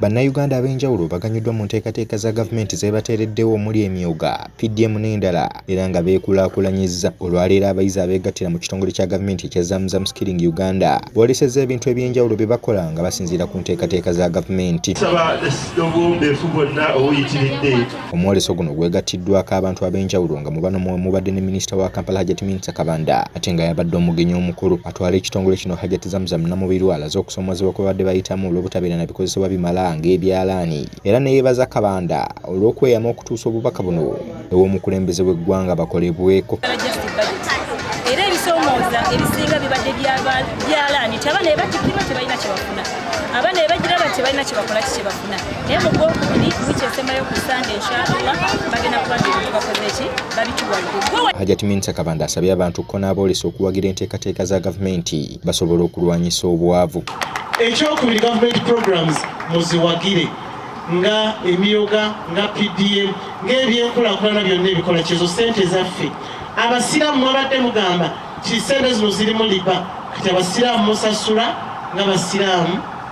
Bannayuganda ab'enjawulo baganyuddwa mu nteekateeka za gavumenti zeebateereddewo omuli emyuga, PDM n'endala era nga beekulaakulanyizza. Olwaleero abayizi abeegattira mu kitongole kya gavumenti ekya Zamzam Skilling Uganda boolesezza ebintu eby'enjawulo bye bakola nga basinziira ku nteekateeka za gavumenti. Nsaba obwombeefu bwonna obuyitiridde Omwoleso guno gwegattiddwaako abantu ab'enjawulo nga mu bano mwe mubadde ne minisita wa Kampala Hajati Minsa Kabanda ate nga y'abadde omugenyi omukulu. Atwala ekitongole kino Hajati Zamzam Namubiru alaze okusoomoozebwa kwe babadde bayitamu olw'obutabeera na bikozesebwa bimala ng'ebyalaani era ne yeebaza Kabanda olw'okweyama okutuusa obubaka buno ew'omukulembeze w'eggwanga bakolebweko. Era ebisoomooza ebisinga bibadde byalaani nti abaana be batikirwa tebalina kye bafuna abaana be bagira bati tebalina kye bakola ki kye bafuna naye mu gwokubiri wiiki esembayo ku sande inshallah bagenda kuba bintu bakoze ki babituwadde hajat minsa kabanda asabye abantu ko n'aboolesa okuwagira enteekateeka za gavumenti basobola okulwanyisa obwavu ekyokubiri gavumenti programs muziwagire nga emyoga nga pdm ng'ebyenkulakulana byonna ebikola kyezo sente zaffe abasiraamu mwabadde mugamba ti sente zino zirimu liba kati abasiraamu musasula nga basiraamu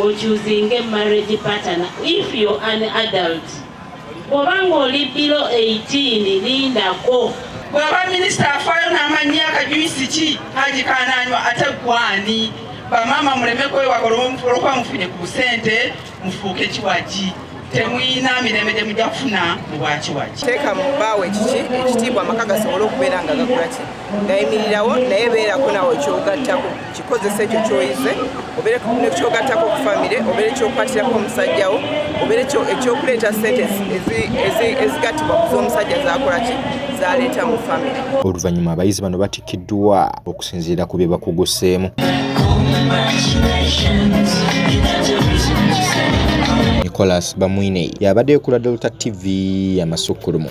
okyuzinge marriage partner if yo an adult bwoba ng'oli bilo 18 lindako bwaba minisita afaayo n'amanya akajuyisi ki haji kananywa ate gwani bamaama muleme kwewaga olwokuba mufunye ku busente mufuuke kiwagi temuyina mirembe gye mujja kufuna mu bwakiwaki teeka mu bbaawo ekiki ekitiibwa amaka gasobole okubeera nga gakola ki gayimirirawo naye beerako nawe ekyogattako kikozesa ekyo kyoyize obeere nekyogattako ku famire obeere ekyokukwatirako omusajjawo obeere ekyokuleeta sente ezigattibwa ku z'omusajja zakola ki zaleeta mu famire oluvannyuma abayizi bano batikkiddwa okusinziira ku bye bakuguseemu nicolas bamwine yabaddeyo ku ladolta tv amasukkulumu